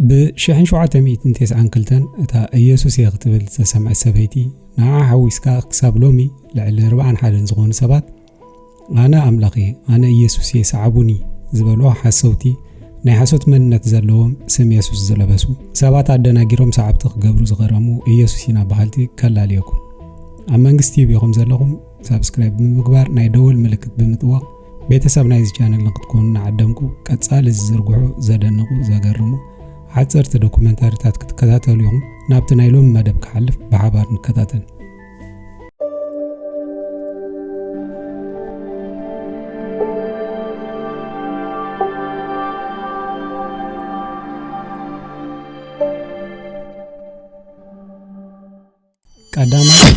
ብሽሕን ሸውዓተ ሚእትን ቴስዓን ክልተን እታ ኢየሱስ እየ ክትብል ዝተሰምዐት ሰበይቲ ንዓ ሓዊስካ ክሳብ ሎሚ ልዕሊ ኣርባዓን ሓደን ዝኾኑ ሰባት ኣነ ኣምላኽ እየ ኣነ ኢየሱስ እየ ሰዓቡኒ ዝበልዎ ሓሰውቲ ናይ ሓሶት መንነት ዘለዎም ስም የሱስ ዝለበሱ ሰባት ኣደናጊሮም ሰዓብቲ ክገብሩ ዝቐረሙ ኢየሱስ ኢና በሃልቲ ከላልየኩም ኣብ መንግስቲ ይብኹም ዘለኹም ሳብስክራይብ ብምግባር ናይ ደወል ምልክት ብምጥዋቕ ቤተሰብ ናይዚ ቻነል ንክትኮኑ ንዓደምኩ ቀጻሊ ዝዝርግሑ ዘደንቑ ዘገርሙ ሓጸርቲ ዶኩመንታሪታት ክትከታተሉ ኢኹም ናብቲ ናይ ሎሚ መደብ ክሓልፍ ብሓባር ንከታተል ቀዳማይ፣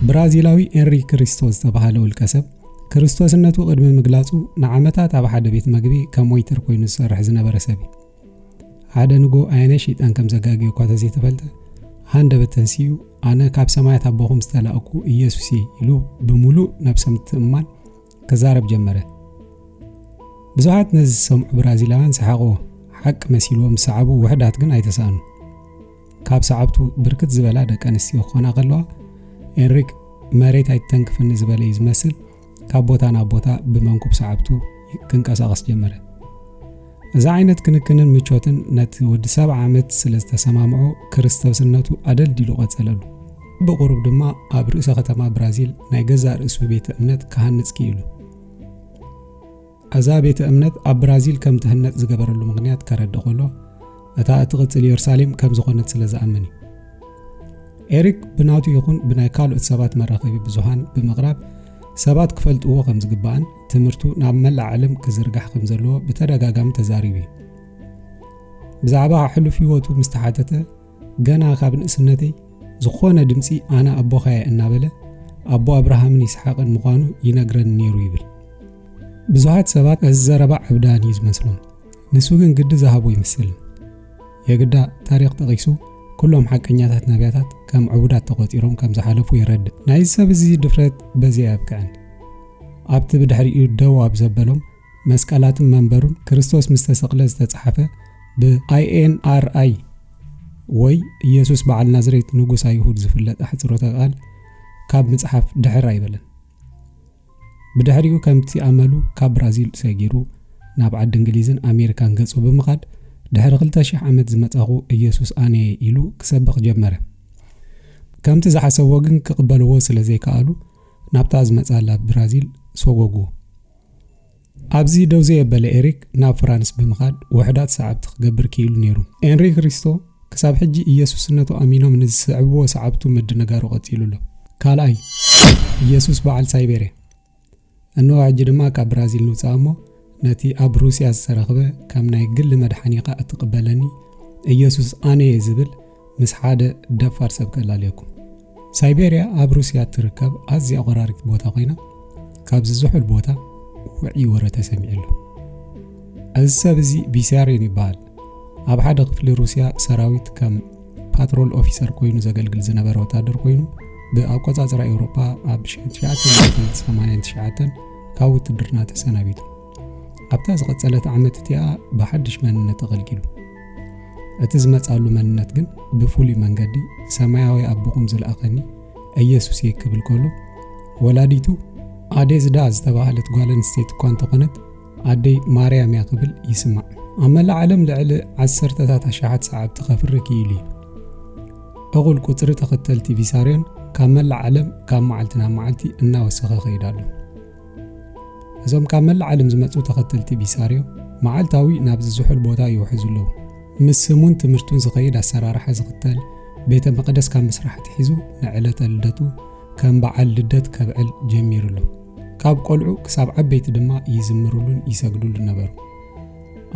ብራዚላዊ ኤንሪ ክሪስቶ ዝተባህለ ውልቀሰብ፣ ክርስቶስነቱ ቅድሚ ምግላጹ ንዓመታት ኣብ ሓደ ቤት መግቢ ከም ወይተር ኮይኑ ዝሰርሕ ዝነበረ ሰብ እዩ። ሓደ ንጎ ኣየናይ ሸይጣን ከም ዘጋግዮ እኳ ተዘይተፈልጠ ሃንደበት ተንስኡ ኣነ ካብ ሰማያት ኣቦኹም ዝተላእኩ ኢየሱስ እየ ኢሉ ብምሉእ ነብሰ ምትእምማን ክዛረብ ጀመረ። ብዙሓት ነዚ ዝሰምዑ ብራዚላውያን ሰሓቕዎ፣ ሓቂ መሲልዎም ዝሰዓቡ ውሕዳት ግን ኣይተሳእኑ። ካብ ሰዓብቱ ብርክት ዝበላ ደቂ ኣንስትዮ ክኾና ከለዋ ኤንሪክ መሬት ኣይትተንክፍኒ ዝበለ እዩ ዝመስል ካብ ቦታ ናብ ቦታ ብመንኩብ ሰዓብቱ ክንቀሳቐስ ጀመረ እዚ ዓይነት ክንክንን ምቾትን ነቲ ወዲ ሰብዓ ዓመት ስለ ዝተሰማምዖ ክርስቶስነቱ ኣደልዲሉ ቐጸለሉ ብቑሩብ ድማ ኣብ ርእሰ ከተማ ብራዚል ናይ ገዛእ ርእሱ ቤተ እምነት ክሃንጽ ክኢሉ እዛ ቤተ እምነት ኣብ ብራዚል ከም ትህነጽ ዝገበረሉ ምኽንያት ከረድእ ከሎ፣ እታ እትቕጽል የሩሳሌም ከም ዝዀነት ስለ ዝኣምን እዩ። ኤሪክ ብናቱ ይኹን ብናይ ካልኦት ሰባት መራኸቢ ብዙሃን ብምቕራብ ሰባት ክፈልጥዎ ከም ዝግባእን ትምህርቱ ናብ መላእ ዓለም ክዝርጋሕ ከም ዘለዎ ብተደጋጋሚ ተዛሪቡ እዩ። ብዛዕባ ሕሉፍ ህይወቱ ምስ ተሓተተ ገና ካብ ንእስነተይ ዝኾነ ድምጺ ኣነ ኣቦኻየ እናበለ ኣቦ ኣብርሃምን ይስሓቕን ምዃኑ ይነግረኒ ነይሩ ይብል። ብዙሃት ሰባት እዚ ዘረባ ዕብዳን እዩ ዝመስሎም፣ ንሱ ግን ግዲ ዝሃቦ ይመስል። የግዳ ታሪኽ ጠቒሱ ኩሎም ሓቀኛታት ነቢያታት ከም ዕቡዳት ተቖጺሮም ከም ዝሓለፉ የረድእ። ናይዚ ሰብ እዚ ድፍረት በዚ ኣየብቅዕን። ኣብቲ ብድሕሪኡ ደው ኣብ ዘበሎም መስቀላትን መንበሩን ክርስቶስ ምስ ተሰቕለ ዝተጻሕፈ ብ INRI ወይ ኢየሱስ በዓል ናዝሬት ንጉስ ኣይሁድ ዝፍለጥ ኣሕጽሮተ ቃል ካብ ምጽሓፍ ድሕር ኣይበለን። ብድሕሪኡ ከምቲ ኣመሉ ካብ ብራዚል ሰጊሩ ናብ ዓዲ እንግሊዝን ኣሜሪካን ገጹ ብምኻድ ድሕሪ ክልተ ሽሕ ዓመት ዝመጻኹ ኢየሱስ ኣነየ ኢሉ ክሰብኽ ጀመረ። ከምቲ ዝሓሰብዎ ግን ክቕበልዎ ስለ ዘይከኣሉ ናብታ ዝመጻላ ብራዚል ሰጎግዎ። ኣብዚ ደው ዘየበለ ኤሪክ ናብ ፍራንስ ብምኻድ ውሑዳት ሰዓብቲ ክገብር ክኢሉ ነይሩ። ኤንሪ ክሪስቶ ክሳብ ሕጂ ኢየሱስነቱ ኣሚኖም ንዝስዕብዎ ሰዓብቱ ምድንጋሩ ቀጺሉ ኣሎ። ካልኣይ ኢየሱስ በዓል ሳይቤርያ እንሆ ሕጂ ድማ ካብ ብራዚል ንውፅኣ እሞ ነቲ ኣብ ሩስያ ዝተረኽበ ከም ናይ ግሊ መድሓኒኻ እትቕበለኒ ኢየሱስ ኣነ እየ ዝብል ምስ ሓደ ደፋር ሰብ ከላልየኩም። ሳይቤርያ ኣብ ሩስያ እትርከብ ኣዝያ ቆራሪት ቦታ ኮይና ካብዚ ዝሑል ቦታ ውዕይ ወረ ተሰሚዑ ኣሎ። እዚ ሰብ እዚ ቢስያሪን ይበሃል። ኣብ ሓደ ክፍሊ ሩስያ ሰራዊት ከም ፓትሮል ኦፊሰር ኮይኑ ዘገልግል ዝነበረ ወታደር ኮይኑ ብኣቆጻጽራ ኤውሮጳ ኣብ 1989 ካብ ውትድርና ተሰናቢቱ። ኣብታ ዝቐጸለት ዓመት እቲኣ ብሓድሽ መንነት ኣገልጊሉ። እቲ ዝመጻሉ መንነት ግን ብፍሉይ መንገዲ ሰማያዊ ኣቦኹም ዝለኣኸኒ ኢየሱስ እየ ክብል ከሎ ወላዲቱ ኣዴዝዳ ዝተባህለት ጓል ኣንስተይቲ እኳ እንተኾነት ኣደይ ማርያም እያ ክብል ይስማዕ። ኣብ መላእ ዓለም ልዕሊ ዓሰርተታት ኣሽሓት ሰዓብቲ ከፍሪ ክኢሉ እዩ። እኹል ቁፅሪ ተኸተልቲ ቪሳርዮን ካብ መላእ ዓለም ካብ መዓልቲ ናብ መዓልቲ እናወሰኸ ከይዱ ኣሎ። እዞም ካብ መላእ ዓለም ዝመጹ ተኸተልቲ ቢሳርዮ መዓልታዊ ናብዚ ዝሑል ቦታ ይውሕዙ ኣለዉ። ምስ ስሙን ትምህርቱን ዝኸይድ ኣሰራርሓ ዝኽተል ቤተ መቕደስ ካብ ምስራሕ ኣትሒዙ ንዕለተ ልደቱ ከም በዓል ልደት ከብዕል ጀሚሩ ኣሎ። ካብ ቆልዑ ክሳብ ዓበይቲ ድማ ይዝምሩሉን ይሰግዱሉን ነበሩ።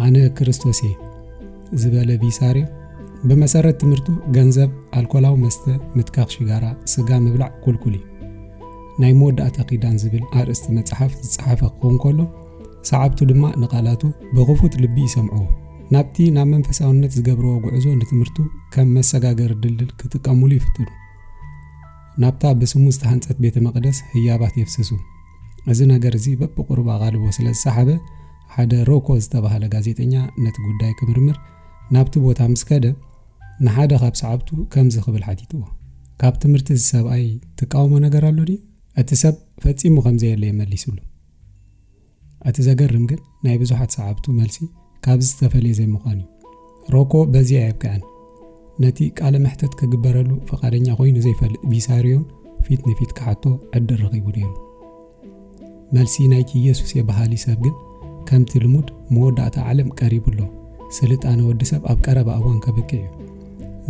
ኣነ ክርስቶስ እየ ዝበለ ቢሳርዮ ብመሰረት ትምህርቱ ገንዘብ፣ ኣልኮላዊ መስተ፣ ምትካኽ ሽጋራ፣ ስጋ ምብላዕ ኩልኩል እዩ። ናይ መወዳእታ ኪዳን ዝብል ኣርእስቲ መጽሓፍ ዝጸሓፈ ክኸውን ከሎ፣ ሰዓብቱ ድማ ንቓላቱ ብኽፉት ልቢ ይሰምዕዎ። ናብቲ ናብ መንፈሳውነት ዝገብርዎ ጉዕዞ ንትምህርቱ ከም መሰጋገሪ ድልድል ክጥቀሙሉ ይፍትኑ። ናብታ ብስሙ ዝተሃንጸት ቤተ መቕደስ ህያባት የፍስሱ። እዚ ነገር እዚ በብቑሩብ ኣቓልቦ ስለ ዝሰሓበ ሓደ ሮኮ ዝተባህለ ጋዜጠኛ ነቲ ጉዳይ ክምርምር ናብቲ ቦታ ምስ ከደ ንሓደ ኻብ ሰዓብቱ ከምዚ ኽብል ሓቲትዎ፣ ካብ ትምህርቲ እዚ ሰብኣይ ትቃወሞ ነገር ኣሎ ድዩ? እቲ ሰብ ፈጺሙ ኸም ዘየለ እዩ መሊሱሉ። እቲ ዘገርም ግን ናይ ብዙሓት ሰዓብቱ መልሲ ካብዚ ዝተፈልየ ዘይምዃኑ እዩ። ሮኮ በዚ ኣየብቅዐን። ነቲ ቃለ መሕተት ክግበረሉ ፍቓደኛ ዀይኑ ዘይፈልጥ ቪሳርዮን ፊት ንፊት ክሓቶ ዕድል ረኺቡ ነይሩ። መልሲ ናይቲ ኢየሱስ'የ በሃሊ ሰብ ግን ከምቲ ልሙድ መወዳእታ ዓለም ቀሪቡ ኣሎ፣ ስልጣነ ወዲ ሰብ ኣብ ቀረባ እዋን ከብቅዕ እዩ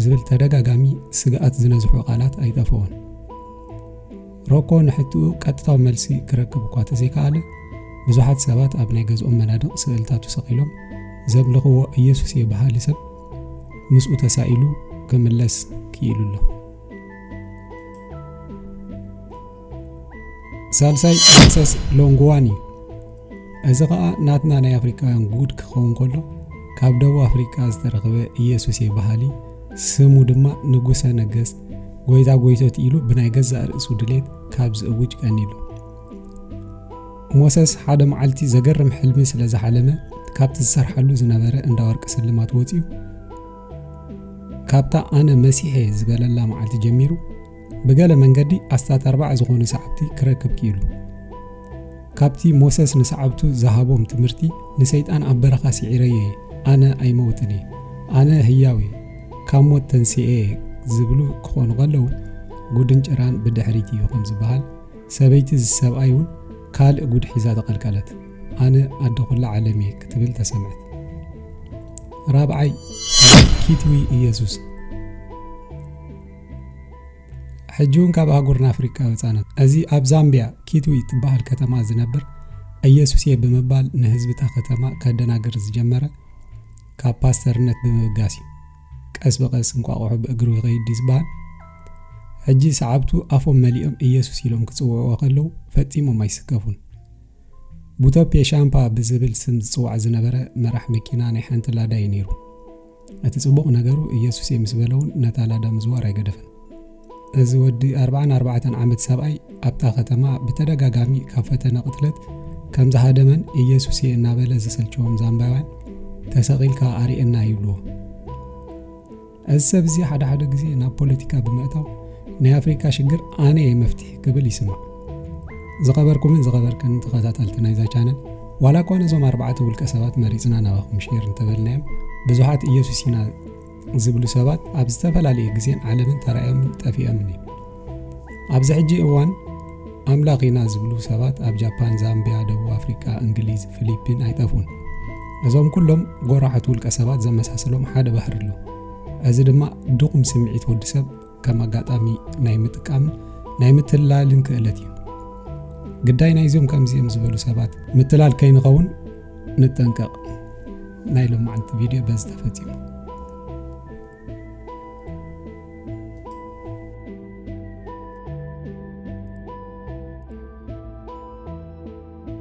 ዝብል ተደጋጋሚ ስግኣት ዝነዝሑ ቃላት ኣይጠፍኦን። ሮኮ ንሕትኡ ቀጥታዊ መልሲ ክረክብ እኳ ተዘይከኣለ ብዙሓት ሰባት ኣብ ናይ ገዝኦም መናድቕ ስእልታቱ ሰቒሎም ዘምልኽዎ ኢየሱስ እየ በሃሊ ሰብ ምስኡ ተሳኢሉ ክምለስ ክኢሉ ኣሎ ሳልሳይ መክሰስ ሎንግዋን እዩ እዚ ከዓ ናትና ናይ ኣፍሪካውያን ጉድ ክኸውን ከሎ ካብ ደቡብ ኣፍሪካ ዝተረኽበ ኢየሱስ የበሃሊ ስሙ ድማ ንጉሰ ነገስት ጎይታ ጎይቶት ኢሉ ብናይ ገዛእ ርእሱ ድሌት ካብ ዝእውጅ ቀኒሉ ሞሰስ ሓደ መዓልቲ ዘገርም ሕልሚ ስለ ዝሓለመ ካብቲ ዝሰርሓሉ ዝነበረ እንዳ ወርቂ ስልማት ወፂኡ ካብታ ኣነ መሲሐ ዝበለላ መዓልቲ ጀሚሩ ብገለ መንገዲ ኣስታት ኣርባዓ ዝኾኑ ሰዓብቲ ክረክብ ክኢሉ። ካብቲ ሞሰስ ንሰዓብቱ ዝሃቦም ትምህርቲ ንሰይጣን ኣብ በረኻ ስዒረዮ እየ፣ ኣነ ኣይመውትን እየ፣ ኣነ ህያው እየ፣ ካብ ሞት ተንሲኤ እየ ዝብሉ ክኾኑ ከለዉ ጉድን ጭራን ብድሕሪት እዩ ከም ዝበሃል ሰበይቲ እዚ ሰብኣይ እውን ካልእ ጉድ ሒዛ ተቐልቀለት። ኣነ ኣደ ኩላ ዓለም እየ ክትብል ተሰምዐት። ራብዓይ ኪትዊ ኢየሱስ ሕጂ እውን ካብ ኣህጉርና ኣፍሪቃ ወፃነት እዚ ኣብ ዛምቢያ ኪትዊ ትበሃል ከተማ ዝነብር ኢየሱስ እየ ብምባል ንህዝቢ እታ ከተማ ከደናግር ዝጀመረ ካብ ፓስተርነት ብምብጋስ እዩ ቀስ ብቐስ እንቋቑሖ ብእግሩ ይኸይድ ዝበሃል ሕጂ ሰዓብቱ ኣፎም መሊኦም ኢየሱስ ኢሎም ክጽውዕዎ ከለዉ ፈጺሞም ኣይስከፉን ቡቶፔ ሻምፓ ብዝብል ስም ዝጽዋዕ ዝነበረ መራሕ መኪና ናይ ሓንቲ ላዳ እዩ ነይሩ እቲ ጽቡቕ ነገሩ ኢየሱስ እየ ምስ በለ እውን ነታ ላዳ ምዝዋር ኣይገደፈን። እዚ ወዲ ኣርብዓን ኣርባዕተን ዓመት ሰብኣይ ኣብታ ከተማ ብተደጋጋሚ ካብ ፈተነ ቅትለት ከም ዝሃደመን ኢየሱስ እየ እናበለ ዘሰልቸዎም ዛምባውያን ተሰቒልካ ኣርእየና ይብልዎ። እዚ ሰብ እዚ ሓደ ሓደ ግዜ ናብ ፖለቲካ ብምእታው ናይ ኣፍሪካ ሽግር ኣነ እየ መፍትሒ ክብል ይስማዕ። ዝኸበርኩምን ዝኸበርክን ተኸታተልቲ ናይዛ ቻነል ዋላ እኳ ነዞም ኣርባዕተ ውልቀ ሰባት መሪፅና ናባኹም ሼር እንተበልናዮም ብዙሓት ኢየሱስ ኢና ዝብሉ ሰባት ኣብ ዝተፈላለየ ግዜን ዓለምን ተራእዮምን ጠፊኦምን እዩ ኣብዚ ሕጂ እዋን ኣምላኽ ኢና ዝብሉ ሰባት ኣብ ጃፓን ዛምቢያ ደቡብ ኣፍሪቃ እንግሊዝ ፊሊፒን ኣይጠፍኡን እዞም ኩሎም ጎራሓት ውልቀ ሰባት ዘመሳሰሎም ሓደ ባህሪ ኣሎ እዚ ድማ ድኹም ስምዒት ወዲ ሰብ ከም ኣጋጣሚ ናይ ምጥቃምን ናይ ምትላልን ክእለት እዩ። ግዳይ ናይዞም ከምዚኦም ዝበሉ ሰባት ምትላል ከይንኸውን ንጠንቀቕ። ናይ ሎማዓንቲ ቪድዮ በዚ ተፈፂሙ።